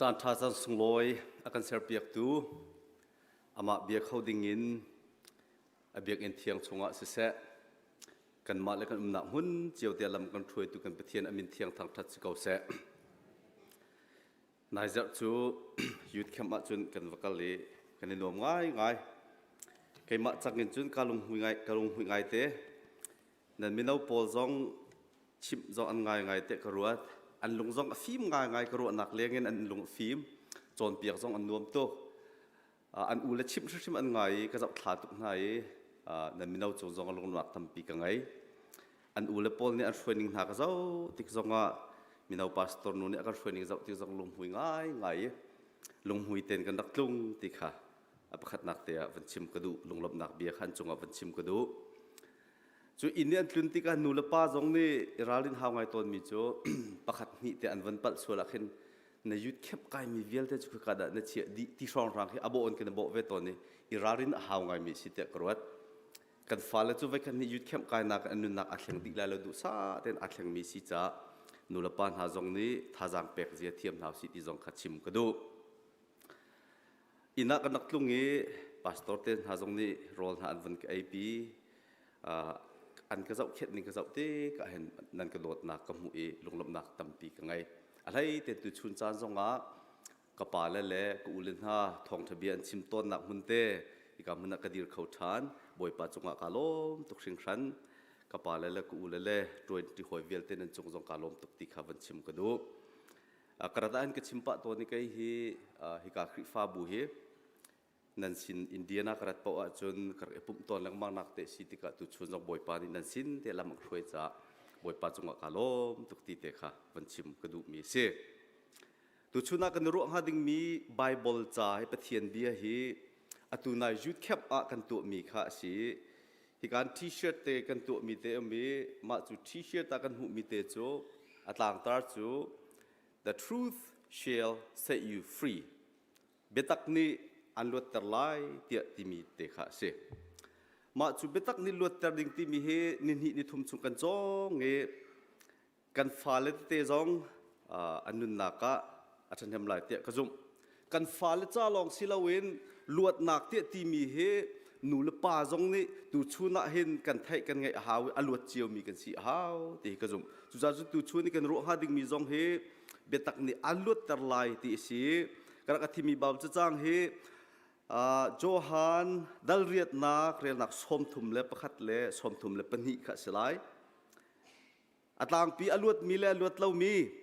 Caanṭha caan sunglawi a kan serpiaktu amah bia kho dingin a biakinn thiang chungah siseh kanmah le kan umnak hmun cio te lam kan hruaitu kan Pathian a min thiang thangṭhat si ko seh. Nai zarh cu youth camp ah cun kan va kal i kan i nuam ngaingai. Keimah cak in cun ka lunghui ngai ka lunghui ngai te nan mino pawl zong chimh zong an ngaingai te ka ruat an lung zong a fim ngaingai ka ruahnak lengin an lung a fim cawnpiak zong an nuam tuk an u le chimh hrimhrim an ngai i ka zoh thla tuk hna i nan mino cung zong a lungnuak tampi ka ngei an u le pawl nih an hruaining hna ka zoh tik zongah mino pastor nu nih a kan hruaining zoh tik zong lunghmui ngai ngai i lunghmui ten kan rak tlung ti kha a pakhatnak te ah van chim ka duh lunglawmhnak bia khan cungah van chim ka duh Cu inn i an tlun tikah nu le pa zong nih i ralrin hau ngai tawnmi cu pakhat hnih te an van palh sual ahkhin na yut khep kaimi vialte cu khika dah na chiah dih ti hrawnghrang hi a bawh on khin a bawh ve tawn i i ralrin a hau ngaimi si tiah ka ruat. Kan fale cu voi khat nih yut khemh kainak an nunnak aa thleng dih lai lo duh sa tein aa thlengmi si caah nu le pa hna zong nih thazaang pek zia thiam hna usih ti zong kha chim ka duh. inn ah kan rak tlung i pastor te hna zong nih rawl hna an vun ka eipi an ka zoh khenh ning ka zoh te ka hen nan ka dawtnak ka hmuh i lunglawmhnak tampi ka ngei a hlei te tu chun caan zongah ka pa le le ka u le hna thawngṭha bia an chim tawnnak hmun te ika hmun ah ka dir kho ṭhan bawipa cungah ka lawm tuk hringhran ka pa le le ka u le le ṭuanṭi hawi vialte nan cung zong ka lawm tuk ti kha van chim ka duh Karata an ka chim pah to ni kai hi hika Khrihfa bu hi nan sin India na karat po ahcun kar ipum ton lengmang nak te si tikah tu chun zong bawipa nih nan sin te lam hruai ca bawipa cungah ka lom tuk ti te kha van chim ka duh mi si tu chun ah kan ruah hnga ding mi Bible ca hi Pathian bia hi atu nai youth camp ah kan tuah mi kha a si Hikan t-shirt te kan tuahmi te um i mah cu t-shirt ah kan hmuhmi te cu a tlangtar cu The truth shall set you free. Biatak nih an luatter lai tiah timi te kha a si. Mah cu biatak nih luatter ding timi hi ni hnih ni thum chung kan cawng i kan fale tete zong an nunnak ah a ṭhahnem lai tiah ka zumh. Kan fale ca lawng si loin luatnak tiah timi hi nu le pa zong nih tuchun ah hin kan theih kan ngaih a hau i a luat ciomi kan si a hau ti hi ka zumh. Cucaah cu tuchun i kan ruah hnga dingmi zong hi biatak nih an luatter lai ti a si. Ka rak a thimi bau cacang hi Johan dal riatnak relnak sawm thum le pakhat le sawm thum le pahnih kha a si lai. A tlangpi a luatmi le a luat lomi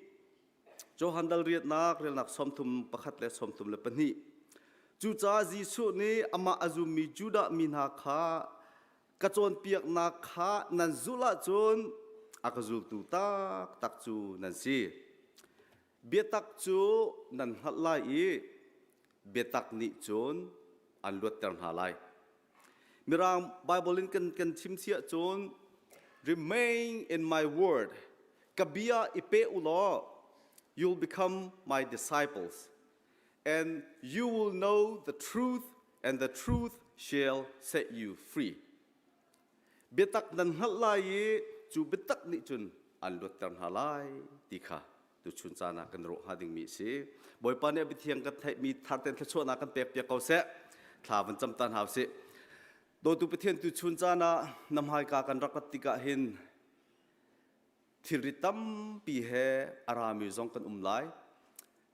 Johandal riatnak relnak sawmthum pakhat le sawmthum le pahnih. Cucaah Jesuh nih amah a zummi Judah mi hna kha ka cawnpiaknak kha nan zulh ahcun a ka zultu taktak cu nan si. Biatak cu nan hngalh lai i biatak nih cun an luatter hna lai. Mirang Bible in kan kan chim si ahcun remain in my word ka bia i pe u law you'll become my disciples and you will know the truth and the truth shall set you free. Biatak nan hngalh lai i cu biatak nih cun an luatter hna lai ti kha tuchun caan ah kan ruah hnga dingmi a si. Bawipa nih a biathiang kan theihmi tharten thluachuahnak kan pek piak ko seh. Thla van cam ta hna sih. Dawtu Pathian tuchun caan ah na hmaika kan rak rat tikah hin thilri tampi he a rami zong kan um lai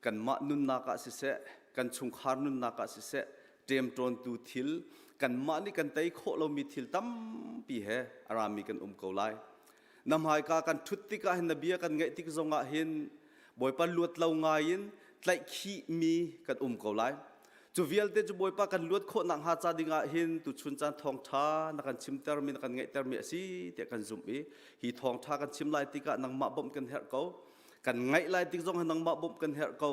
kanmah nunnak ah siseh kan chungkhar nunnak ah siseh ṭemṭawntu thil kanmah nih kan tei khawh lomi thil tampi he a rami kan um ko lai na hmaika kan ṭhut tikah hin na bia kan ngaih tik zongah hin Bawipa luat lo ngai in tlaihkhih mi kan um ko lai. Cu vialte cu Bawipa kan luat khawh nak hnga ca ding ah hin tuchun caan thawngtha na kan chimter mi na kan ngeihter mi asi tiah kan zumh i hi thawngtha kan chim lai tikah nangmah bawmh kan herh ko kan ngaih lai tik zong nangmah bawmh kan herh ko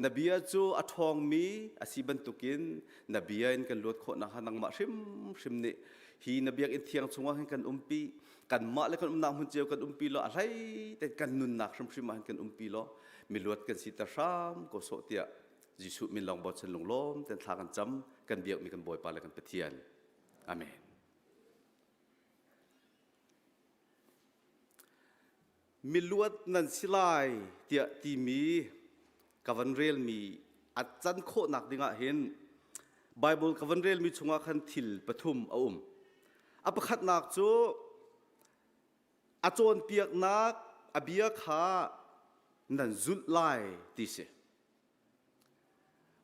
na bia cu a ṭhawng mi asi bantukin na bia in kan luat khawh nak hnga nangmah hrimhrim nih hi na biakinn thiang chungah hin kan umpi kanmah le kan umnak hmun cio kan umpi law a hlei tein kan nunnak hrimhrim ah kan umpi law miluat kan si ta hram ko sawh tiah Jesuh min lawng bochan lunglawm ten thla kan cam kan biakmi kan Bawipa le kan Pathian amen miluat nan si lai tiah timi ka van relmi a can khawhnak dingah hin Bible ka van relmi chungah khan thil pathum a um. A pakhatnak cu a cawnpiaknak a bia kha nan zulh lai ti si.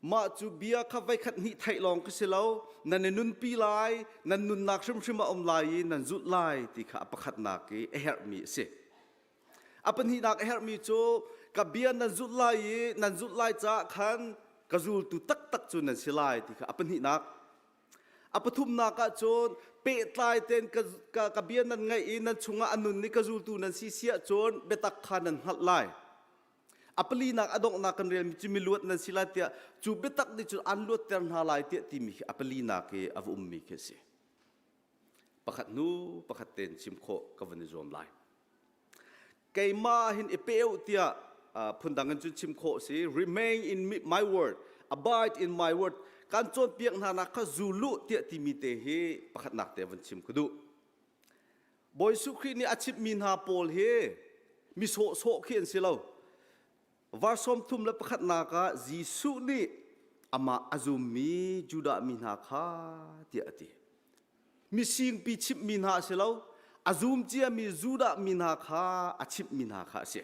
Mah cu bia kha voikhat hnih theih lawng ka si lo. Nan i nunpi lai, nan nunnak hrimhrim a um lai i nan zulh lai ti kha a pakhatnak i a herhmi a si. A pahnihnak a herhmi cu ka bia nan zulh lai i nan zulh lai caah khan ka zultu taktak cu nan si lai ti kha a pahnihnak. A pathumnak ah cun pehtlai tein ka, ka, ka bia nan ngaih i nan chungah a nun i ka zultu nan si siah cun biatak kha nan hngalh lai. a palinak a donghnak kan relmi cu miluat nan si lai tiah cu biatak nih cun an luatter hna lai tiah timi hi a palinak i a va ummi khi a si pakhat hnu pakhat tein chim khawh ka van i zuam lai keima hin i peu tiah phundang in cun chim khawh si remain in my word abide in my word kan cawnpiak hna nak kha zulu tiah timi te hi pakhatnak te van chim ka duh Bawi Suh Khrih nih a chimhmi hna pawl hi mi sawhsawh khi an si lo. Var sawm thum le pakhatnak ah Jesuh nih amah a zummi Judah mi hna kha tiah a ti. Misingpi chimhmi hna a si lo, a zum ciami Judah mi hna kha a chimhmi hna kha a si.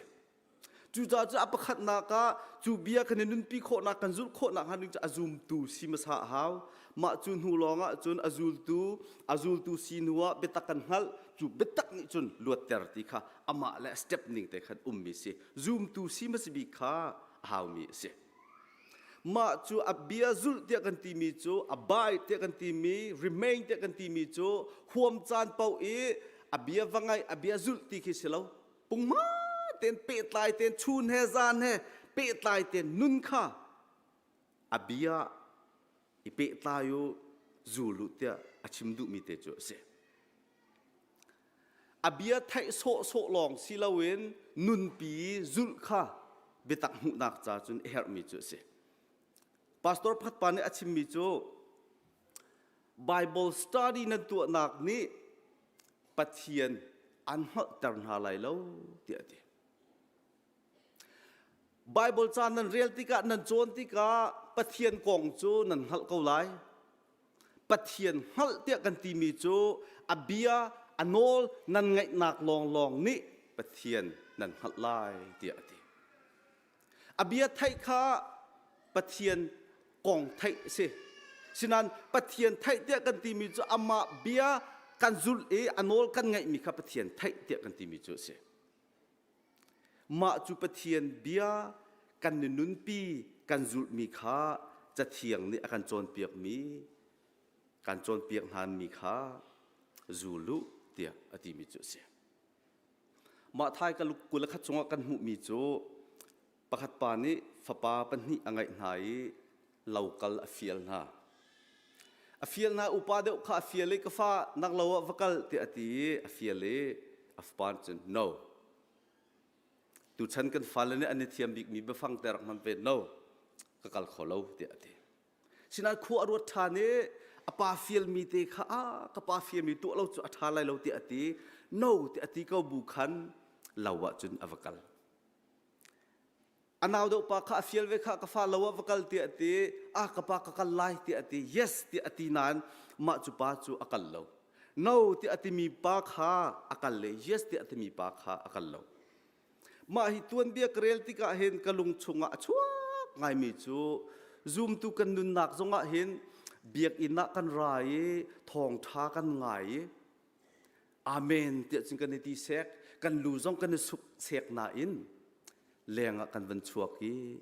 Cucaah a pakhatnak ah cu bia kan i nunpi khawhnak kan zulh khawhnak hnga ding cu a zumtu si hmasa a hau. Mah cu hnu lawngah cun a zultu a zultu si hnu ah biatak kan hngalh. Cu biatak nih cun luatter ti kha amah le a step ning te khan ummi si. Zumtu si hmasa bik kha a haumi a si. Mah cu a bia zulh tiah kan timi cu a bai tiah kan timi remain tiah kan timi cu huam caan paoh i a bia va ngaih a bia zulh ti khi si lo. pungma ten pehtlai ten chun he zan he pehtlai ten nun kha abia i pehtlai u zulu tiah a chim duhmi te cu a si abia theih sawhsawh lawng si loin nunpi zulh kha biatak hmuhnak ca cun a herhmi cu a si Pastor pakhat pa nih a chimmi cu Bible study nan tuahnak nih Pathian an hngalhter hna lai lo tiah a ti. Bible caan nan rel tikah nan cawn tikah Pathian kong cu nan hngalh ko lai. Pathian hngalh tiah kan timi cu a bia a nawl nan ngaihnak lawnglawng nih Pathian nan hngalh lai tiah a ti. A bia theih kha Pathian kong theih a si. Sinain Pathian theih tiah kan timi cu amah bia kan zulh i a nawl kan ngaihmi kha Pathian theih tiah kan timi cu a si. Mah cu Pathian bia kan ni nunpi kan zulhmi kha cathiang nih a kan cawnpiakmi kan cawnpiak hnaanmi kha zul u tiah a timi cu a si. Mah thai ka luk kula kha cungah kan hmuhmi cu pakhat pa nih fapa pahnih a ngeih hna i lokal a fial hna. A fial hna upa deuh kha a fial i ka fa nak lo ah va kal tiah a ti i a fial i a fapa nih cun no tuchan kan fale nih an i thiam bikmi biafang te rak hman ve no ka kal kho lo tiah a ti Sinah khua a ruat ṭhan i a pa fialmi te kha a ka pa fialmi tuah lo cu a ṭha lai lo tiah a ti. No tiah a ti ko bu khan lo ah cun a va kal. A nau deuh pa kha a fial ve kha ka fa lo ah va kal tiah a ti. A ka pa ka kal lai tiah a ti. Yes tiah a ti nain mah cu pa cu a kal lo. No tiah a timi pa kha a kal le yes tiah a timi pa kha a kal lo. Mah hi tuanbia ka rel tikah hin ka lung chungah a chuak ngaimi cu zumtu kan nunnak zongah hin biakinn ah kan ra i thawngṭha kan ngai i amen tiah cun kan i ti sek kan lu zong kan i suk sek nain lengah kan van chuak i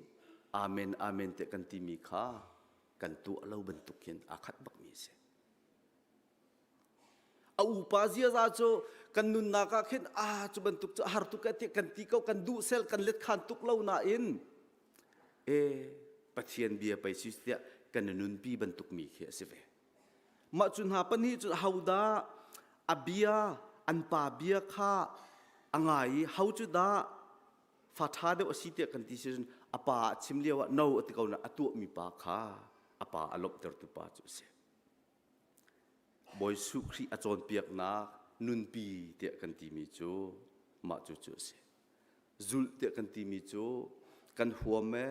amen amen tiah kan timi kha kan tuah lo bantuk hin aa khat bakmi a si. A upa ziaza cu kan nunnak ah khin a cu bantuk cu a har tuk tiah kan ti ko kan duh sel kan let khan tuk lo nain e Pathian bia pei si tiah kan nunpi bantuk mi khi a si ve mah cu hna pahnih cu hodah a bia an pa bia kha a ngai i ho cu dah fa ṭha deuh a si tiah kan ti si cun a pa a chim lio ah no a ti ko na a tuahmi pa kha a pa a lawmhtertu pa cu a si Bawi Suh Khrih a cawnpiaknak nunpi tiah kan timi cu mah cu cu a si. Zulh tiah kan timi cu kan huam e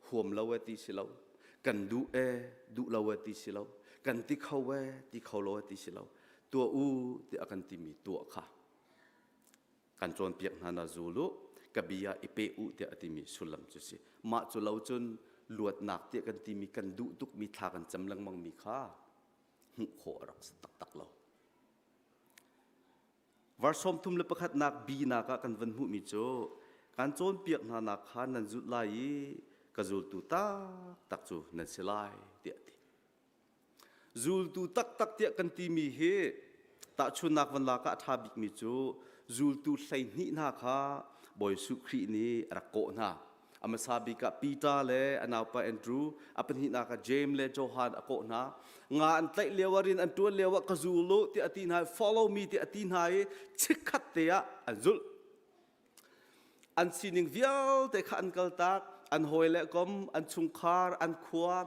huam lo e ti si lo, kan duh e duh lo e ti si lo, kan ti kho e ti kho lo e ti si lo, tuah u tiah kan timi tuah kha kan cawnpiak hna na zul u ka bia i pe u tiah a timi sullam cu si mah cu lo cun luatnak tiah kan timi kan duh tukmi thla kan cam lengmangmi kha hmuh khawh a rak si taktak lo var sawm thum le pakhatnak bi nakah kan van hmuhmi cu kan cawnpiak hna nak kha nan zulh lai i ka zultu taktak cu nan si lai tiah ti Zultu taktak tiah kan timi hi tahchunnak van lak ah a ṭha bikmi cu zultu hleihnih hna kha Bawi Suh Khrih nih a rak kawh hna. A hmasa bik ah Peter le a naupa Andrew, a pahnihnak ah James le Johan a kawh hna. Nga an tlaih lio ah rin an ṭuan lio ah ka zul u tiah a ti hna i follow me tiah a ti hna i chikkhat te ah an zulh. an sining vialte kha an kaltak an hawi le kom an chungkhar an khua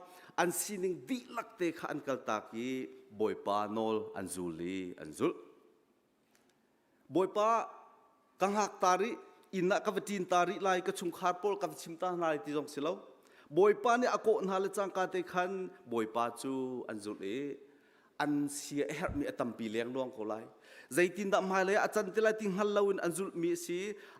an sining dihlak te kha an kaltak i bawipa nawl an zul i an zulh bawipa ka hngak ta rih inn ah ka va ṭin ta rih lai ka chungkhar pawl ka va chim ta hna lai ti zong si lo bawipa nih a kawh hna le cangka te khan bawipa cu an zulh i an si a herhmi a tampi lengluang ko lai zeitindah hmailei ah a can ti lai ti hngal loin an zulhmi a si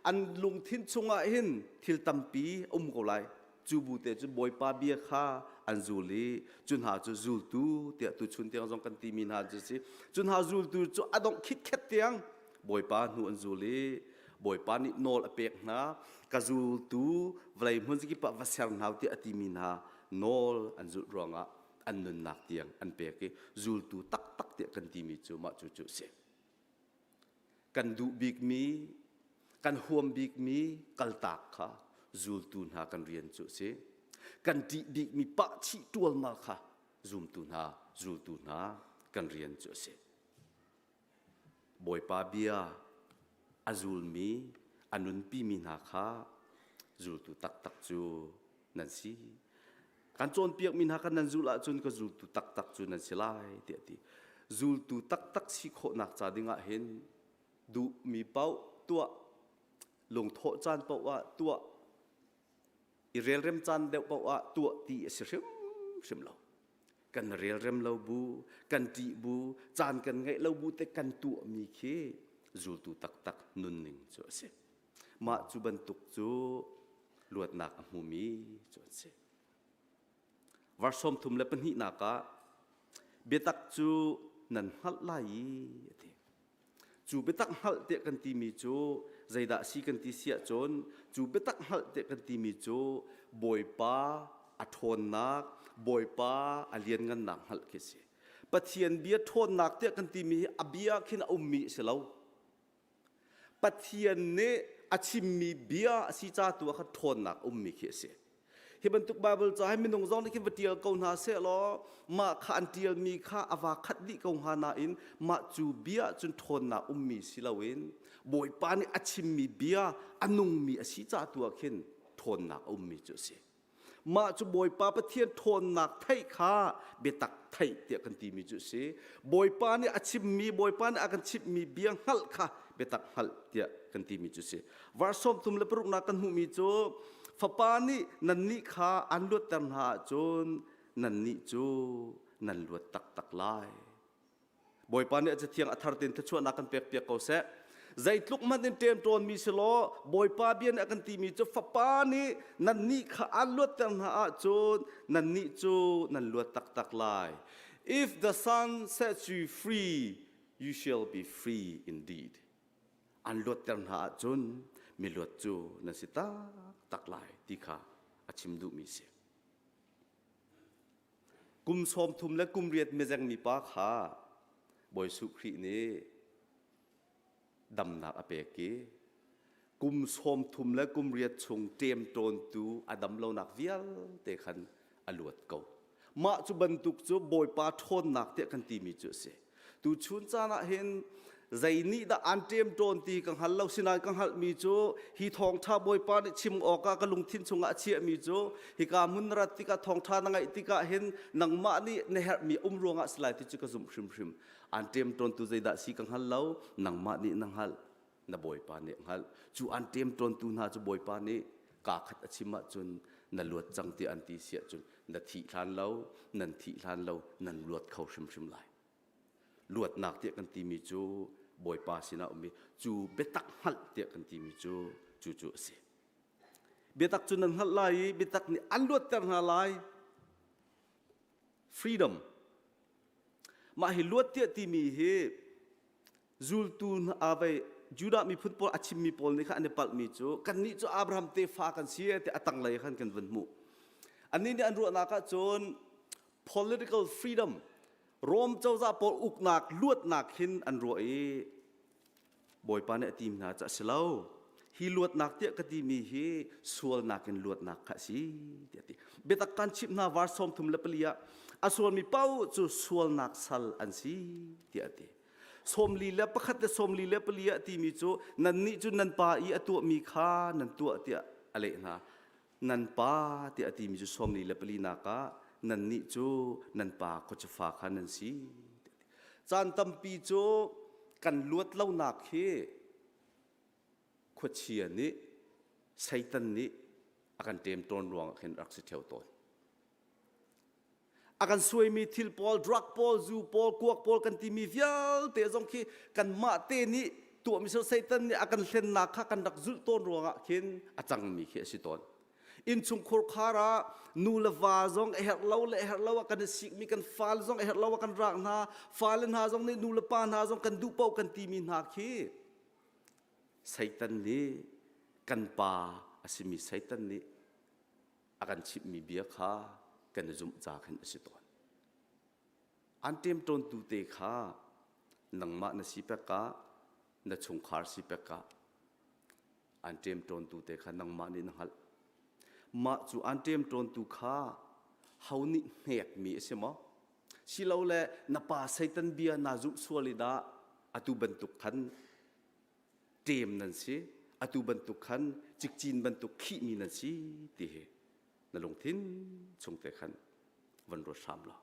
an lungthin chungah hin thil tampi um ko lai cu bu te cu bawipa bia kha an zul i cu hna cu zultu tiah tuchun tiang zong kan timi hna cu si cu hna zultu cu a dongh khitkhet tiang bawipa hnu an zul i bawipa nih nawl a pek hna ka zultu vlei hmun zikip ah va ser hna ti a timi hna nawl an zulh ruangah an nunnak tiang an pek i zultu taktak tiah kan timi cu mah cu cu si kan duh bikmi kan huam bikmi kaltak kha zultu hna kan rian cu si kan ṭih bikmi pahchih ṭualmal kha zumtu hna zultu hna kan rian cu a si Bawipa bia a zulmi, a nunpimi hna kha zultu taktak cu nan si. Kan cawnpiakmi hna kha nan zulh ahcun ka zultu taktak cu nan si lai, tiah a ti. Zultu taktak si khawhnak ca dingah hin duhmi paoh tuah, lungthawh caan paoh ah tuah, i relrem caan deuh paoh ah tuah ti a si hrimhrim lo kan relrem lo bu kan ṭih bu caan kan ngeih lo bu te kan tuahmi khi zultu taktak nunning cu a si mah cu bantuk cu luatnak a hmumi cu an si Vers sawm thum le pahnihnak ah biatak cu nan hngalh lai i a ti. Cu biatak hngalh tiah kan timi cu zeidah si kan ti siah cun cu biatak hngalh tiah kan timi cu Bawipa a ṭhawnnak, Bawipa a lianngannak hngalh khi a si. Pathian bia ṭhawnnak tiah kan timi hi a bia khin a ummi a si lo. Pathian nih a chimmi bia a si ca tu ah khan ṭhawnnak ummi khi a si. Hi bantuk Baibal ca hi minung zong nih khi va ṭial ko hna seh law mah kha an ṭialmi kha a va khat dih ko hnga nain mah cu bia cun ṭhawnnak ummi si loin Bawipa nih a chimmi bia a nungmi a si ca tu ah khin ṭhawnnak a ummi cu a si. Mah cu Bawipa Pathian ṭhawnnak theih kha biatak theih tiah kan timi cu a si. Bawipa nih a chimmi, Bawipa nih a kan chimhmi bia hngalh kha biatak hngalh tiah kan timi cu a si. Vers sawmthum le paruknak kan hmuhmi cu, Fapa nih nannih kha an luatter hna ahcun nannih cu nan luat taktak lai. Bawipa nih a cathiang a thar tein thluachuahnak kan pekpiak ko seh. Zeitluk hmanh in ṭemṭawnmi si law Bawipa bia nih a kan timi cu fapa nih nannih kha aan luatter hna ahcun nannih cu nan luat taktak lai. If the son sets you free, you shall be free indeed. An luatter hna ahcun mi luat cu nan si taktak lai ti kha a chim duhmi si. Kum sawmthum le kum riat mizeng mipa kha Bawi Suh Khrih nih damnak a pek i kum sawmthum le kum riat chung ṭem ṭawntu a dam lonak vialte khan a luat ko. Mah cu bantuk cu Bawipa ṭhawnnak tiah kan timi cu a si. Tuchun caan ah hin zei nih dah aan ṭem ṭawn ti ka hngal lo sinai ka hngalhmi cu hi thawngṭha Bawipa nih chim awkah ka lungthin chungah a chiahmi cu hika hmun na rat tikah thawngṭha na ngaih tikah hin nangmah nih na herhmi um ruangah si lai ti cu ka zumh hrimhrim aan ṭem ṭawntu zeidah si ka hngal lo nangmah nih na hngalh na bawipa nih a hngalh cu an ṭemṭawntu hna cu bawipa nih kaa khat a chim ahcun na luat cang tiah an ti si ahcun na thih hlan lo nan thih hlan lo nan luat kho hrimhrim lai luatnak tiah kan timi cu bawipa sinah um i cu biatak hngalh tiah kan timi cu cu cu a si biatak cu nan hngalh lai i biatak nih an luatter hna lai freedom mah hi luat tiah timi hi zultu avei judah miphun pawl a chimmi pawl nih khan an i palhmi cu kannih cu Abraham tefa kan si tiah a tanglei khan kan vun hmuh annih nih an ruahnak ah cun political freedom Rome cozah pawl uknak luatnak hin an ruah i bawipa nih a tim hna cu a si lo hi luatnak tiah ka timi hi sualnak in luatnak kha a si tiah ti biatak kan chimh hna var sawm thum le pali ah a sualmi pau cu sualnak sal an si tiah a ti sawmli le pakhat le sawmli le pali a timi cu nan nih cu nan pa i a tuahmi kha nan tuah tiah a leh hna nan pa tiah a timi cu sawmli le pali nak ah nan nih cu nan pa khuacufa kha nan si caan tampi cu kan luat lonak hi khuachia nih satan nih a kan ṭem tawn ruang ah khin rak si ṭheo tawn a kan suaimi thil pawl drug pawl zu pawl kuak pawl kan timi vialte zong khi kanmah te nih tuahmi sir satan nih a kan hlennak kha kan rak zulh tawn ruangah khin a cangmi khi a si tawn innchungkhur khar ah nu le va zong a herh lo le herh lo ah kan i sikmi kan fal zong a herh lo ah kan rak hna fale hna zong nih nu le pa hna zong kan duh paoh kan timi hna khi satan nih kan pa a simi satan nih a kan chimhmi bia kha kan i zumh ca khin a si tawn. An ṭemṭawntu te kha nangmah na si pek ah na chungkhar si pek ah an ṭemṭawntu te kha nangmah nih na hngalh. Mah cu an ṭemṭawntu kha ho nih hnekmi a si maw? Silole na pa Satan bia naa zumh sual i dah atu bantuk khan ṭem nan si atu bantuk khan cikcin bantuk khihmi nan si ti hi na lungthin chungte khan van ruat hram law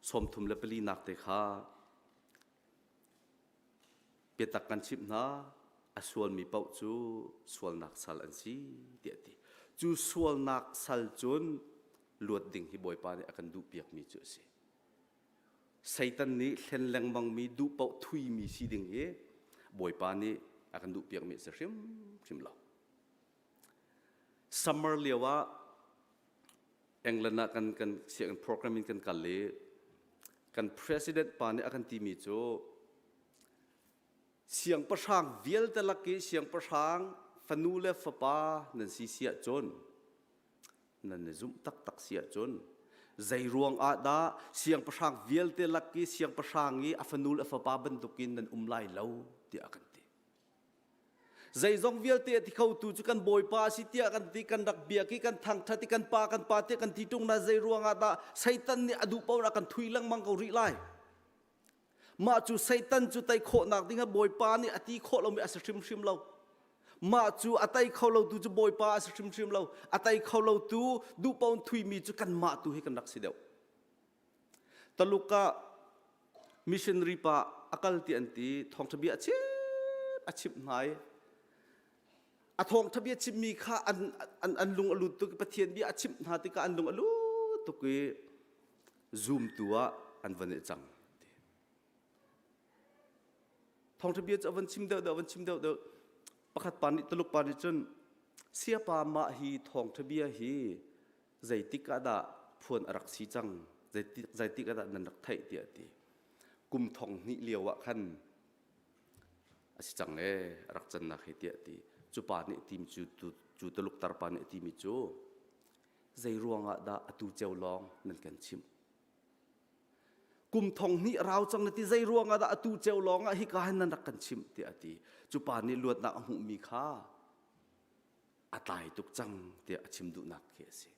sawmthum le pali nak te kha biatak kan chimh hna a sualmi paoh cu sualnak sal an si tiah ti cu sualnak sal cun luat ding hi bawipa nih a kan duh piakmi cu a si Satan nih hlen lengmangmi duh paoh thuimi si ding hi Bawipa nih a kan duhpiakmi a si hrimhrim lo. Summer lio ah England ah kan kan sianginn program in kan kal i kan president pa nih a kan timi cu siangpahrang vialte lak i siangpahrang fanu le fapa nan si si ahcun nan i zumh taktak si ahcun zei ruang ah dah siangpahrang vialte lak i siangpahrang i a fanu le fapa bantukin nan um lai lo tiah kan ti zeizong vialte a ti khotu cu kan bawipa a si tiah kan ti kan rak biak i kan thangṭhat i kan pa kan pa tiah kan ti ṭung na zei ruang ah dah seitan nih a duh paoh ah kan thui lengmang ko rih lai Mah cu Satan cu tei khawhnak ding a Bawipa nih a ti khawh lomi a si hrimhrim lo. Mah cu a tei kho lotu cu Bawipa a si hrimhrim lo. A tei kho lotu duhpaun thuimi cu kanmah tu hi kan rak si deuh. Taluk ah missionary pa a kal ti an ti thawngṭha bia a chim a chimh hna i a thawngṭha bia chimmi kha an, an, an lung a lut tuk i Pathian bia a chimh hna tikah an lung a lut tuk i zumtu ah an van i cang ti thawngṭha bia cu a van chim deuh deuh a van chim deuh deuh pakhat pa nih tuluk pa nih cun siapa mah hi thawngṭha bia hi zeitik ah dah phuan a rak si cang zeitik zeitik ah dah nan rak theih tiah ti kum thong hnih lio ah khan a si cang e a rak cannak hi tiah ti cu pa nih tim cu tu tuluk tarpa nih a timi cu Zeiruangah dah atu ceu lawng nan kan chimh? Kum thong hnih rau cang na ti zei ruangah dah atu ceu lawngah hika hin nan rak kan chimh tiah a ti. Cu pa nih luatnak a hmuhmi kha a tlai tuk cang tiah a chim duhnak khi a si.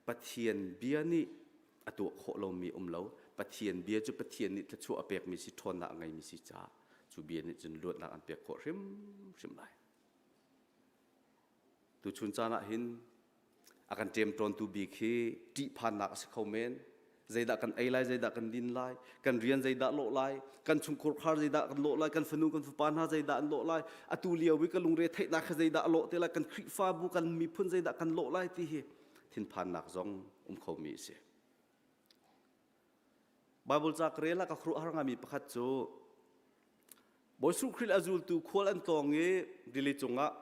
Pathian bia nih a tuah khawh lomi um lo. Pathian bia cu Pathian nih thluachuah a pekmi si, ṭhawnnak a ngeimi si caah cu bia nih cun luatnak an pek khawh hrimhrim lai. Tuchun caan ah hin a kan ṭemṭawntu bik hi ṭihphannak a si kho men. Zeidah kan ei lai, zeidah kan din lai, kan rian zeidah lawh lai, kan chungkhur khar zeidah kan lawh lai, kan fanu kan fapa hna zeidah an lawh lai, atu lio i ka lungre theihnak kha zeidah a lawh te lai, kan Khrihfabu, kan miphun zeidah kan lawh lai ti hi thinphannak zong um khomi a si. Baibal ca ka rel ah ka khuruah har ngami pakhat cu Bawi Suh Khrih a zultu khual an tlawng i rili cungah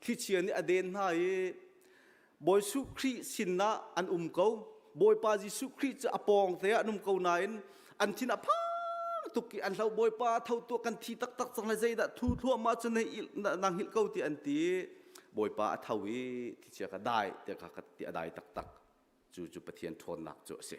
thlichia nih a den hna i Bawi Suh Khrih sinah an um ko. Bawipa Jesuh Khrih cu a pawng te ah an um ko nain an thin a phang tuk i an hlo Bawipa tho tuah kan thi taktak cang le zeidah thu thluahmah cu na hngilh ko tiah an ti. Bawipa a tho i thlichia kha dai tiah a dai taktak. cu cu Pathian ṭhawnnak cu a si.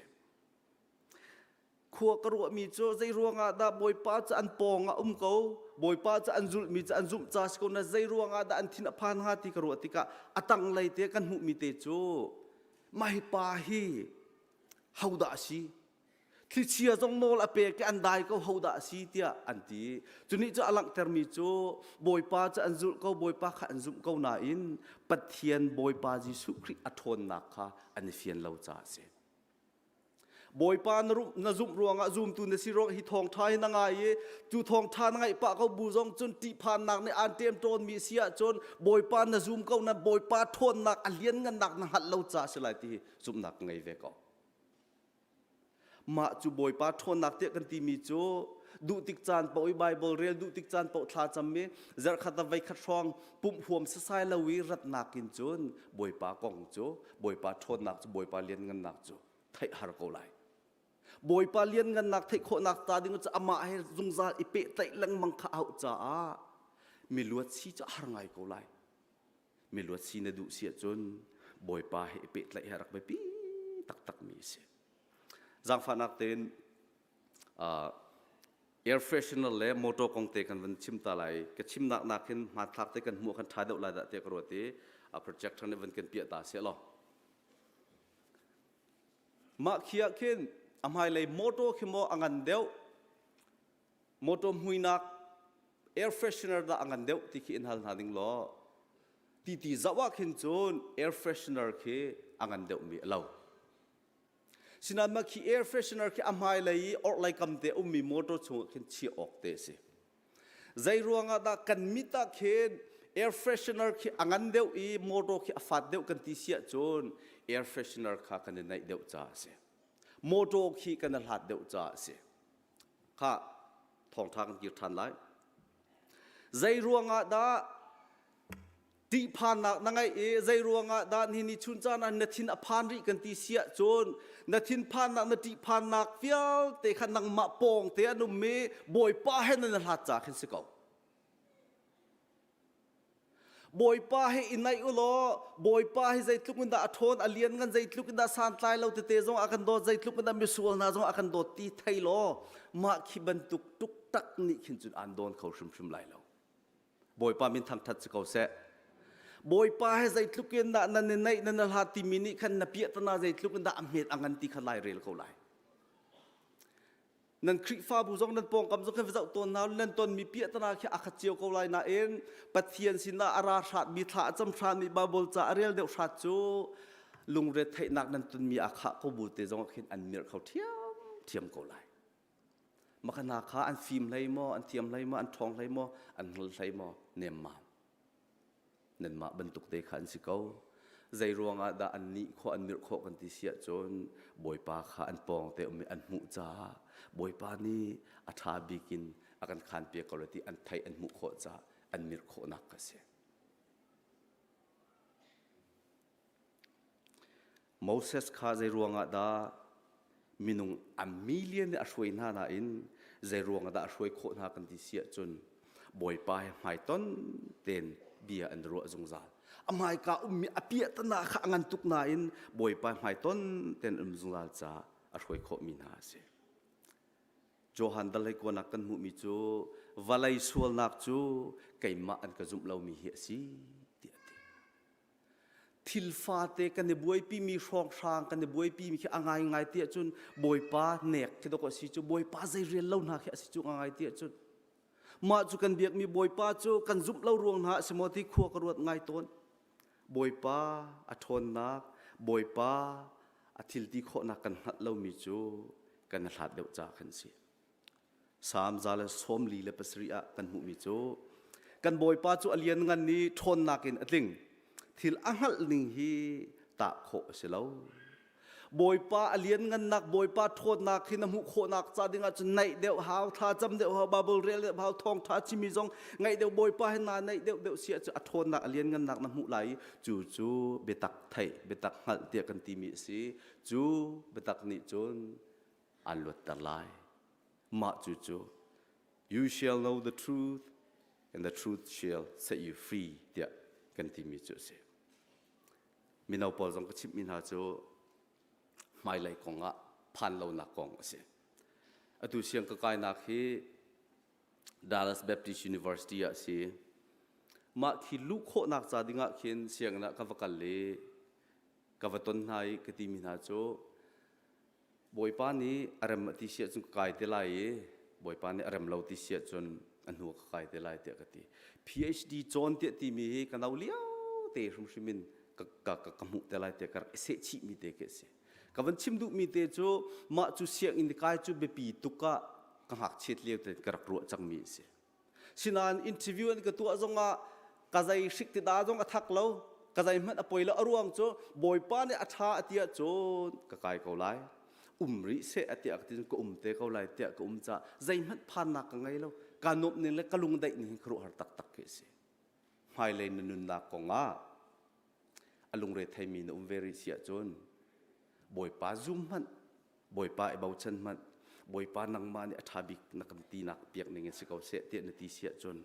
Khua ka ruahmi cu zei ruangah dah Bawipa cu an pawng ah um ko, Bawipa cu an zulhmi cu an zumh ca si ko na zei ruangah dah an thin a phan hnga ti ka ruah tikah a tanglei te kan hmuhmi te cu my pa hi hodah a si thlichia zong nawl a pek i an dai ko ho dah a si tiah an ti cunih cu a langhtermi cu bawipa cu an zulh ko bawipa kha an zumh ko nain pathian bawipa jesuh khrih a ṭhawnnak kha an i fian lo caah a si bawipa na zumh ruangah zumtu na si ruangah hi thawngṭha hi na ngai i cu thawngṭha na ngaih pah ko bu zong cun ṭihphannak nih aan ṭem ṭawnmi si ahcun bawipa na zum ko na bawipa ṭhawnnak a lianngannak na hngalh lo caah a si lai ti hi zumhnak ka ngei ve ko Mah cu Bawipa ṭhawnnak tiah kan timi cu duh tik caan paoh i Baibal rel, duh tik caan paoh thla cam i zarhkhat ah veikhat hrawng pumh huam sasai lo i ratnak in cun Bawipa kong cu Bawipa ṭhawnnak cu Bawipa lianngannak cu theih har ko lai. Bawipa lianngannak theih khawhnak ta ding cu amah he zungzal i pehtlaih lengmang kha a hauh caah mi luat si cu a har ngai ko lai. miluat si na duh si ahcun bawipa he i pehtlaih hi a rak biapi taktakmi a si zaangfahnak tein uh, air freshener le motor kong te kan van chim ta lai ka chimnak nakin hmathlak te kan hmuh kan tha deuh lai dah te ka ruat i a projector nih van kan piah ta se lo mah khi ah khin a hmailei motor khi mo a ngan deuh motor hmuinak air freshener dah a ngan deuh ti khi in hal hna ding law ti ti zoh ah khin cun air freshener khi a ngan deuhmi a lo sinan ma khi air freshener khi a hmai lei i orh lei kam te ummi motor chungah khin chiah awk te a si zei ruangah dah kan mit ah khin air freshener khi a ngan deuh i motor khi a fat deuh kan ti sia cun air freshener kha kan i naih deuh ca a si motor khi kan i hlat deuh ca a si kha thawngṭha kan kir ṭhan lai. Zei ruangah dah tihphannak na ngeih i zei ruangah dah ni ni chun caan ah na thin a phan rih kan ti siah cun na thinphannak na ṭihphannak vialte kha nangmah pawng te an um i Bawipa he nan i hlat ca khin si ko. Bawipa he i naih u law Bawipa hi zeitluk in dah a ṭhawn a lian ngan zeitluk in dah santlai lo tete zong a kan dawt zeitluk in dah misual hna zong a kan dawt ti thei law mah khi bantuk tuk tak nih khin cun aan dawn kho hrimhrim lai lo Bawipa min thangṭhat si ko seh Bawipa he zeitluk in dah nan i naih nan i hlat timi nih khan na piahtana zeitluk in dah a hmet a ngan ti kha lai rel ko lai nan khrihfabu zong nan pawngkam zong kan va zoh tawn hna nan tonmi piahtana khi a khat cio ko lai nain pathian sinah a ra hrat mi thla a cam hran mi bible ca a rel deuh hrat cu lungret theihnak nan tunmi a khah ko bu te zong khin an mirh kho thiam thiam ko lai maka hna kha an fim hlei maw an thiam hlei maw an ṭhawng hlei maw an ngol hlei maw nem ma nanmah bantuk te kha an si ko. Zei ruangah dah annih khua an mirh khawh kan ti si ahcun Bawipa kha an pawng te um i an hmuh caah Bawipa nih a ṭha bik in a kan khaanpiak ko le ti an theih an hmuh khawh caah an mirh khawhnak ka si. Moses kha zeiruangah dah minung a million nih a hruai hna nain zeiruangah dah a hruai khawh hna kan ti si ahcun Bawipa he hmaiton tein bia an ruah zungzal. A hmaika ummi a piahtana kha a ngan tuk nain Bawipa hmaiton tein um zungzal caah a hruai khawhmi hna a si. Johan dallei kuanak kan hmuhmi cu valei sualnak cu keimah an ka zumh lomi hi a si tiah a ti. Thil fate kan i buaipimi hrawnghrang kan i buaipimi khi a ngaingai ti ahcun Bawipa nek khi dok a si cu Bawipa zei rel lo hna khi a si cu a ngai ti ahcun mah cu kan biakmi Bawipa cu kan zumh lo ruang hna a si maw ti khua ka ruat ngai tawn Bawipa a ṭhawnnak Bawipa a thil ti khawhnak kan hngalh lomi cu kan i hlat deuh caah khan si. Salm za le sawm li le pasarih ah kan hmuhmi cu kan Bawipa cu a lianngan i ṭhawnnak in a tling thil a hngalh ning hi tah khawh a si lo. Bawipa a lianngannak Bawipa ṭhawnnak hi na hmuh khawhnak ca dingah cun naih deuh hau tha cam deuh hau Bible rel deuh hau thawngṭha chimmi zong ngaih deuh Bawipa he naa naih deuh deuh si ahcun a ṭhawnnak a lianngannak na hmuh lai i cu cu biatak theih biatak hngalh tiah kan timi a si. Cu biatak nih cun an luatter lai. Mah cucu You shall know the truth and the truth shall set you free tiah kan timi cu a si. Mino pawl zong ka chimhmi hna cu hmailei kong ah phanlonak kong a si. Atu siang ka kainak hi Dallas Baptist University ah si. Mah thi luh khawhnak ca dingah khin sianginn ah ka va kal i ka va ton hna i ka timi hna cu Bawipa nih a rem a ti siah cun ka kai te lai i Bawipa nih a rem lo ti siah cun a hnu ka kai te lai tiah ka ti. PhD John tiah timi hi ka no lio te hrimhrim in ka, ka, ka, ka hmuh te lai tiah ka rak i sehchihmi te khi a si. Ka van chim duhmi te cu mah cu sianginn kai cu biapi tuk ah ka ngakchiat lio te ka rak ruah cangmi a si. Sinain interview an ka tuah zongah ka zai hrik ti da zong a thak lo ka zai hmanh a poi lo a ruang cu bawipa nih a ṭha a tiah cun ka kai ko lai um rih seh a tiah ka ti ka um te ko lai tiah ka um ca zeihmanh phannak ka ngei lo ka nup ning le ka lungdaih ning hi ka ruahar taktak khi a si hmailei na nunnak kongah a lungre theimi na um ve rih si ahcun Bawipa zum hmanh Bawipa i bochan hmanh Bawipa nangmah nih a ṭha bik na kan tinak piak ning in si ko seh tiah na ti si ahcun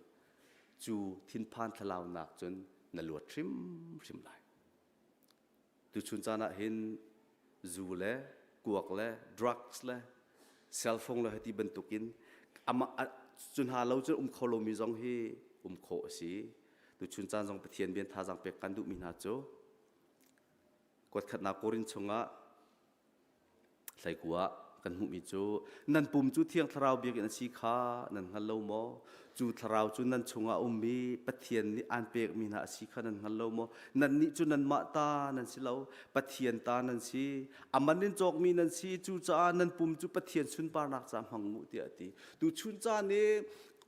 cu thinphan thlalaunak cun na luat hrimhrim lai tuchun caan ah hin zu le kuak le drugs le cellphone le hiti bantuk in amah cu hna lo cu um kho lomi zong hi um khawh a si tuchun caan zong Pathian bian thazaang pek kan duhmi hna cu kuatkhatnak korin chungah hleikua kan hmuhmi cu nan pum cu thiang thlarau biakinn a si kha nan hngal lo maw cu thlarau cu nan chungah a um i Pathian nih aan pekmi hna a si kha nan hngal lo maw? Nannih cu nanmah ta nan si lo, Pathian ta nan si. A man in cawkmi nan si, cucaah nan pum cu Pathian sunparnak caah hmang mu, tiah a ti. Tuchun caan i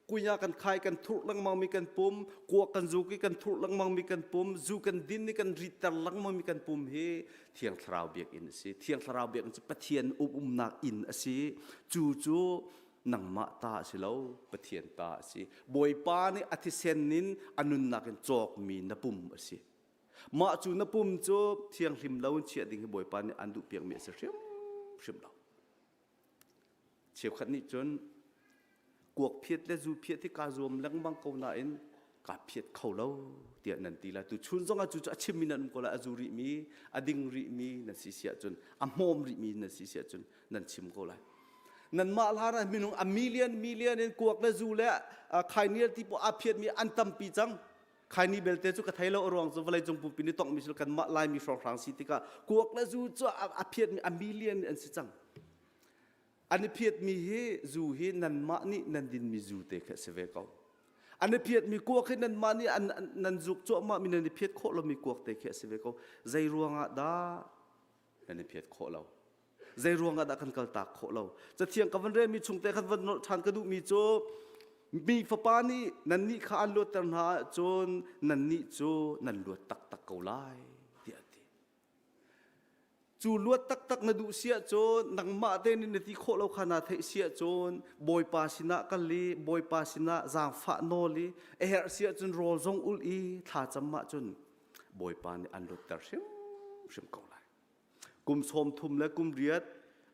kunya kan khai kan thurh lengmangmi kan pum, kuak kan zuk i kan thurh lengmangmi kan pum, zu kan din i kan riter lengmangmi kan pum hi Thiang Thlarau biakinn a si. Thiang Thlarau biakinn cu Pathian umnak inn a si. Cu cu nangmah ta a si lo pathian ta a si bawipa nih a thisen in a nunnak in cawkmi na pum a si mah cu na pum cu thianghlim lo in chiah ding hi bawipa nih an duh piakmi a si hrimhrim lo cheukhat nih cun kuak phiat le zu phiat hi kaa zuam lengmang ko nain kaa phiat kho lo tiah nan ti la tu chun zong a cu cu a chim mi nan um ko la a zu rih mi a ding rih mi nan si siah cun a hmawm rih mi nan si siah cun nan chim ko lai nan mah hlar ah minung a million million in kuak le zu le khainial ti po a phiat mi an tampi cang khaini belte cu ka thei lo ruang cu vawlei cung pumpi ni tong mi kan mah lai mi hrawng hrang si tikah kuak le zu cu a phiat mi a million in an si cang An i phiatmi hi zu hi nanmah nih nan dinmi zu te khi a si ve ko. An i phiatmi kuak hi nanmah nih an, nan zuk cuahmahmi nan i phiat khawh lomi kuak te khi a si ve ko. Zei ruangah dah nan i phiat khawh lo? Zei ruangah dah kan kaltak khawh lo? Cathiang ka van relmi chung te khan van nolh ṭhan ka duhmi cu mi fapa nih nannih kha an luatter hna ahcun nannih cu nan luat taktak ko lai tiah a ti. Cu luat taktak na duh siah cun nangmah te nih na ti khawh lo kha na theih siah cun Bawipa sinah kal i Bawipa sinah zaangfah nawl i a herh siah cun rawl zong ul i thlacam ah cun Bawipa nih an lutter hrimhrim ko lai. Kum sawm thum le kum riat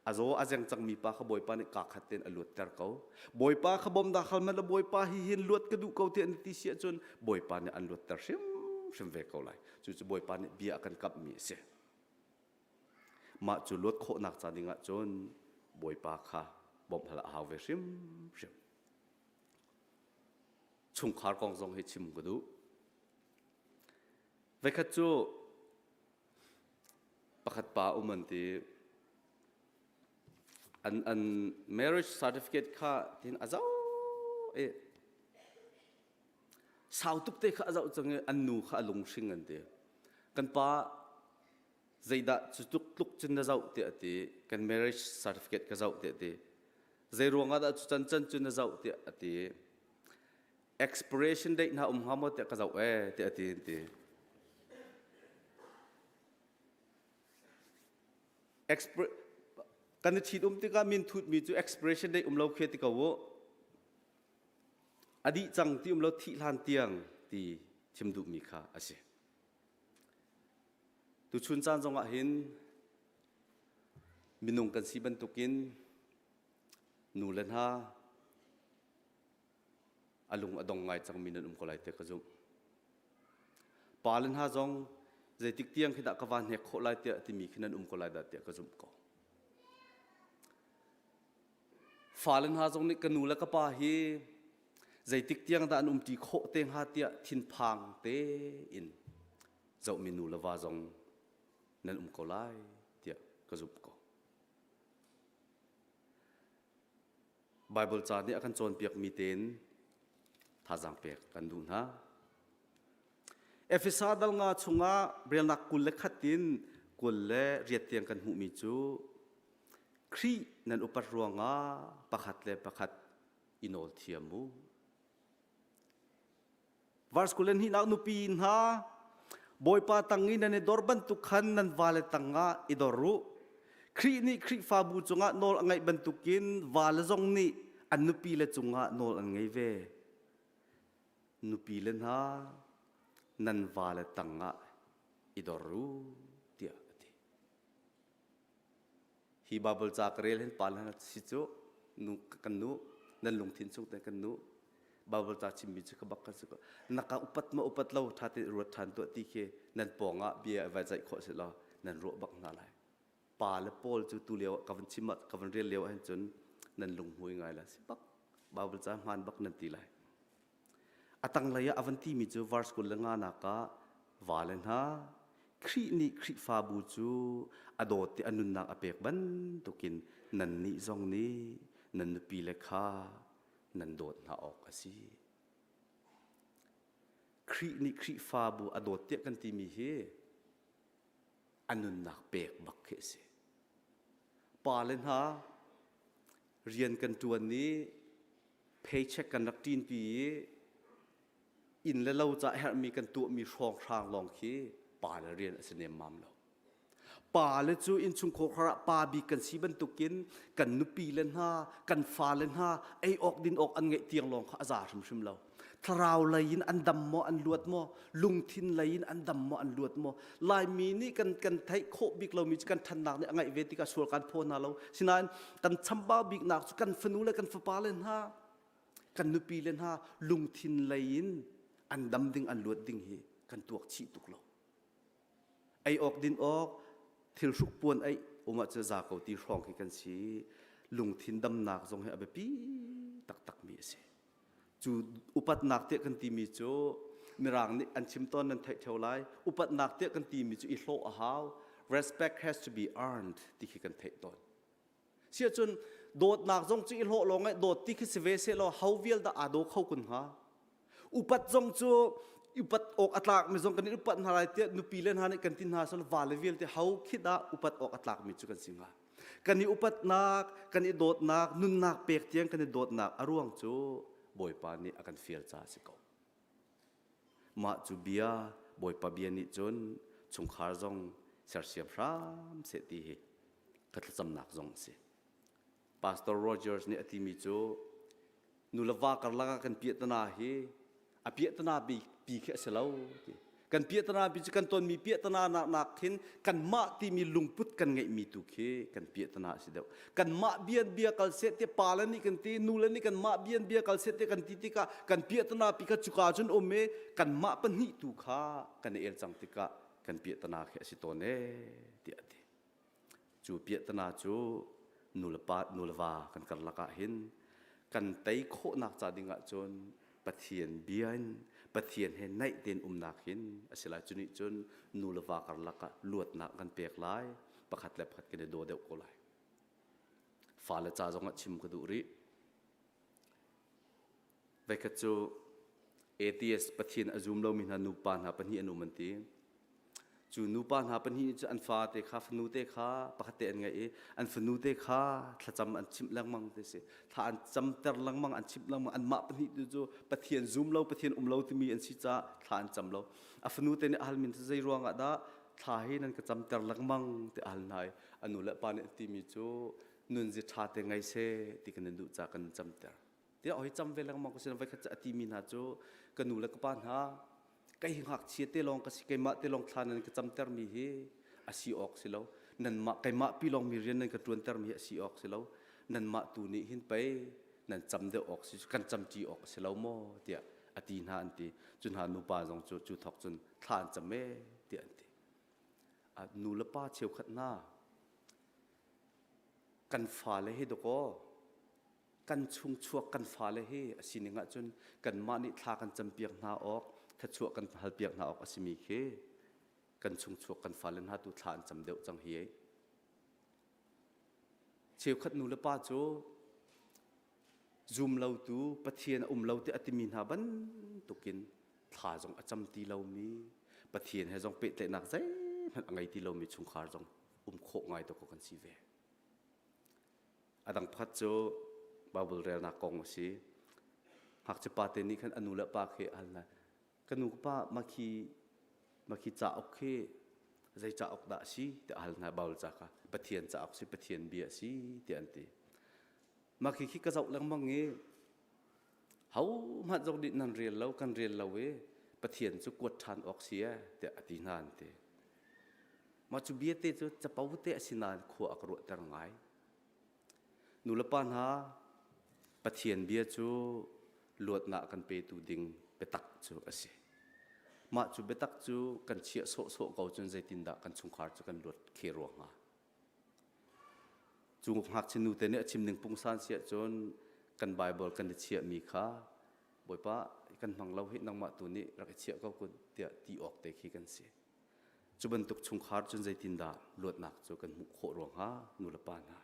a zaw a zeng cangmi pa kha bawipa nih kaa khat tein a luatter ko bawipa kha bawm dah hal mala bawipa hi hin luat ka duh ko tiah an ti si ahcun bawipa nih an luatter hrimhrim ve ko lai cucu bawipa nih bia a kan kamhmi a si mah cu luat khawhnak ca ding ahcun bawipa kha bawmh hal a hau ve hrimhrim chungkhar kong zong hi chim ka duh veikhat cu pakhat pa um an ti. An, an marriage certificate kha tin a zau i sau tuk te kha a zau cang i an nu kha a lunghring an ti. Kan pa zeidah cu tluk tluk cun na zauh tiah ti kan marriage certificate ka zauh tiah ti. Zei ruangah dah cu can can cu na zauh tiah a ti. expiration date hna um hnga maw tiah ka zoh ee tiah ti an ti kan i thit um tikah min thutmi cu expiration date um lo khi ti ko u a dih cang ti um lo thih hlan tiang ti chim duhmi kha a si tuchun caan zongah hin minung kan si bantukin nu le hna a lung a dong ngai cangmi nan um ko lai te ka zumh. Pa le hna zong zeitik tiang khi dah ka van hnek khawh lai tiah timi khi nan um ko lai dah tiah ka zumh ko. Fa le hna zong nih ka nu le ka pa hi zeitik tiang dah an umṭi khawh te hnga tiah thinphang te in zohmi nu le va zong nan um ko lai tiah ka zumh ko. Baibal ca nih a kan cawnpiakmi tein thazaang pek kan duh hna. Efesa dal nga chungah relnak kul le khat in kul le riat tiang kan hmuhmi cu Khrih nan upat ruangah pakhat le pakhat i nawl thiam u. Verse kul in hihlah nupi hna Bawipa tang i nan i dor bantuk khan nan vale tangah i dor u. Khrih nih Khrihfabu cungah nawl a ngaih bantukin vale zong nih an nupi le cungah nawl an ngei ve. Nupi le hna nan vale tangah i dor u tiah a ti. hi Bible ca ka rel hin pa le hna si cu nu kan nu nan lungthin chung te kan nu Bible ca chimmi cu ka bak kan si ko naka upat ma upat lo tha te ruat than tuah ti khi nan pawngah bia vai zai kho se lo nan ruah bak hna lai pa le paul cu tu lio ka van chim ka van rel lio hin cun nan lung hmui ngai la si bak Bible ca hman bak nan ti lai A tanglei ah a van timi cu verse kul le nganak ah vale hna, Khrih nih Khrihfabu cu a dawt i a nunnak a pek bantukin nannih zong nih nan nupile kha nan dawt hna awk a si. Khrih nih Khrihfabu a dawt tiah kan timi hi a nunnak pek bak khi a si. Pa le hna, rian kan ṭuan i paycheck kan rak ṭin pi i inn le lo ca herhmi kan tuahmi hrawnghrang lawng khi pa le rian a si nemmam lo. Pa le cu innchungkhar kar ah pa bik kan si bantukin kan nupi le hna, kan fale hna ei awk din awk an ngeih tiang lawng kha a za hrimhrim lo. Thlarau lei in an dam maw, an luat maw, lungthin lei in an dam maw an luat maw laimi nih kan kan theih khawh bik lomi cu kan thannak nih a ngaih ve tikah sual kan phaw hna lo sinain kan chambau biknak cu kan fanu le kan fapa le hna kan nupi le hna lungthin lei in an dam ding an luat ding hi kan tuak chih tuk lo ei awk din awk thil hruk puan ei umah cu za ko ti hrawng hi kan si lungthin damnak zong hi a biapi taktakmi a si Cu upatnak tiah kan timi cu Mirang nih an chim tawn nan theih theo lai. Upatnak tiah kan timi cu i hlawh a hau. Respect has to be earned ti khi kan theih tawn. Siahcun dawtnak zong cu i hlawh lawng i dawt ti khi si ve se law hau vial dah aa daw kho kun hnga. Upat zong cu upat awk a tlakmi zong kan in upat hna lai tiah nupi le hna nih kan ti hna sal vale vialte hau khi dah upat awk a tlakmi cu kan si hnga. kan i upatnak kan i dawtnak nunnak pek tiang kan i dawtnak a ruang cu bawipa nih a kan fial ca a si ko mah cu bia bawipa bia nih cun chungkhar zong sersiam hram seh ti hi ka thlacamnak zong a si pastor rogers nih a timi cu nu le va karlak ah kan piahtana hi a piahtana pi pi khi a si lo ti kan piahtana pi cu kan tonmi piahtana nak nak khin kanmah timi lungput kan ngeihmi tu khi kan piahtana a si deuh kanmah bian bia kal se te pa le nih kan ti nu le nih kanmah bian bia kal se te kan ti tikah kan piahtana pi kha cuka cun um e kanmah pahnih tu kha kan el cang tikah kan piahtana khi a si tawn e tiah a ti Cu piahtana cu nulepa nuleva kan karlak ah hin kan tei khawhnak ca ding ahcun Pathian bia in Pathian he naih tein umnak hin a si lai cu nih cun nuleva karlak ah luatnak kan pek lai pakhat le pakhat kan i daw deuh ko lai fale ca zong ah chim ka duh rih Veikhat cu atheist pathian a zum lomi hna nupa hna pahnih an um an ti. Cu nupa hna pahnih cu an fate kha fanu te kha pakhat te an ngaih i an fanu te kha thlacam an chimh lengmang ti si. Thla an camter lengmang an chimh lengmang anmah pahnih tu cu pathian zum lo pathian um lo timi an si caah thla an cam lo. A fanu te nih a hal min cu zei ruangah dah thla hi nan ka camter lengmang ti a hal hna i a nu le pa nih an timi cu nun zi ṭha te ngei se ti kan in duh ca kan camter. tiah oi cham ve lengmang ko sin voikhat a timi hna cu ka nu le ka pa hna kai ngakchia te lawng ka si keimah te lawng thla nan ka camter mi hi asi awk si lo nanmah keimah pi lawng mi rian nan ka tuanter mi hi asi awk si lo nanmah tu nih hin pei nan cam deuh awk si kan camci awk si lo maw tiah a ti hna an ti cu hna nupa zong cu cu thok cun thla an cam e tiah an ti a nu le pa cheukhat na kan fa le hi dakaw kan chung chuak kan fale hi a sining ahcun kanmah nih thla kan campiak hna awk thachuah kan halpiak hna awk a simi khi kan chung chuak kan fale hna tu thla an cam deuh cang hi cheukhat nu le pa cu zum lotu pathian a um lo ti a timi hna bantukin thla zong a cam ti lomi pathian he zong pehtlaihnak zeihmanh a ngei ti lomi chungkhar zong um khawh ngai to kan si ve A dang pakhat cu Baibal relnak kong a si. Ngakchia pate nih khan a nu le pa khi a hal hna. Ka nu ka pa makhi makhi cauk hi zei cauk dah a si tiah a hal hna Baibal ca kha. Pathian cauk si Pathian bia a si tiah an ti. Makhi khi ka zoh lengmang i hohmanh zong nih nan rel lo kan rel lo i Pathian cu kuat ṭhan awk si e tiah a ti hna an ti. Mah cu biate cu capo te a si nain khua a ka ruahter ngai. Nulepa hna, Pathian bia cu luatnak kan petu ding biatak cu a si. Mah cu biatak cu kan chiah sawhsawh ko cun zeitindah kan chungkhar cu kan luat khe rua hnga? Cu ngakchia nute nih a chim ning pungsan siah cun kan Baibal kan i chiahmi kha Bawipa kan hmang lo hi nangmah tu nih rak i chiah ko kun tiah ti awk te khi kan si. Cu bantuk chungkhar cun zeitindah luatnak cu kan hmuh khawh ruang hnga nulepa hna?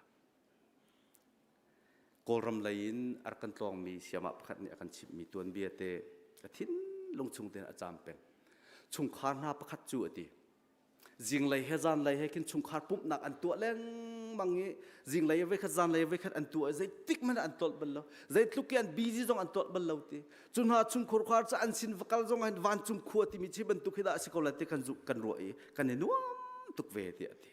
Kawlram lei in a rak kan tlawngmi siamah pakhat nih a kan chimhmi tuanbia te a thinlung chung tein a caam peng. Chungkhar hna pakhat cu a ti. Zinglei he zanlei he khin chungkhar pumhnak an tuah lengmang i zinglei voikhat zanlei voikhat an tuah i zeitik hmanh an tolh bal lo zeitluk i an busy zong an tolh bal lo ti cu hna chungkhur khar ca an sin vakal zong an van cung khua timi chi bantuk hi dah a si ko la ti kan zuk kan ruah i kan i nuam tuk ve ti a ti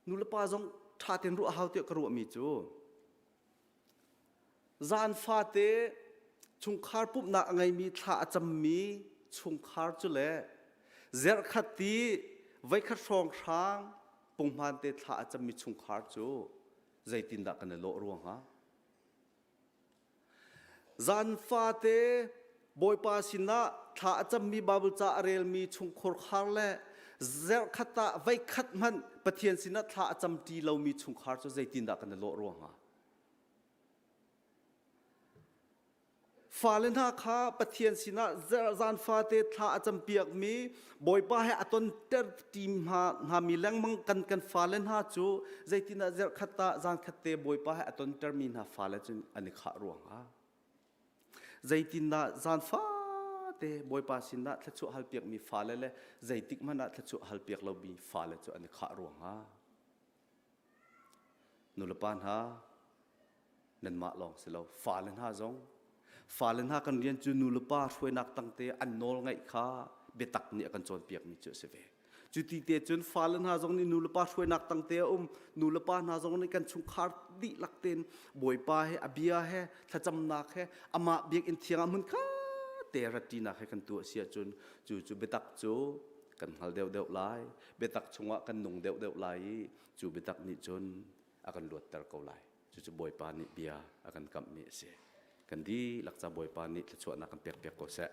nulepa zong ṭha ten ruah hau ti ka ruah mi cu zan fate chungkhar pumhnak a ngeimi thla a cammi chungkhar cu le zerkhat ti voikhat hrawng hrang pungman te thla a cammi chungkhar cu zeitindah kan i lawh ruang ha Zan fate Bawipa sinah thla a cammi Baibal ca a relmi chungkhur khar le zerkhat ah veikhat hmanh Pathian sinah thla a camṭi lomi chungkhar cu zeitindah kan i lawh rua hnga? fale hna kha pathian sinah zan fate thla a campiak mi bawipa he aton ter tim hna hna mi lengmang kan kan fale hna cu zeitinah zerkhat ta zangkhat te bawipa he aton ter mi hna fale cun an i khah ruanga zeitinah zan fate bawipa sinah thlachuah halpiak mi fale le zeitik hmanah thlachuah halpiak lo mi fale cu an i khah ruanga Nulepa hna, nanmah lawng si lo, fale hna zong, fale hna kan rian cu nulepa hruainak tangte an nawl ngaih kha biatak nih a kan cawnpiakmi cu a si ve. Cu ti te cun fale hna zong nih nulepa hruainak tangte a um. Nulepa hna zong nih kan chungkhar dihlak tein Bawipa he, a bia he, thlacamnak he, amah biakinn thiangah hmun kha te ratṭinak he kan tu a si ahcun cu cu biatak cu kan hngal deuhdeuh lai. biatak chungah kan nung deuhdeuh lai i cu biatak nih cun a kan luatter ko lai. Cucu Bawipa nih bia a kan kamhmi a si. Kan dihlak ca Bawipa nih thluachuahnak kan pekpiak ko seh.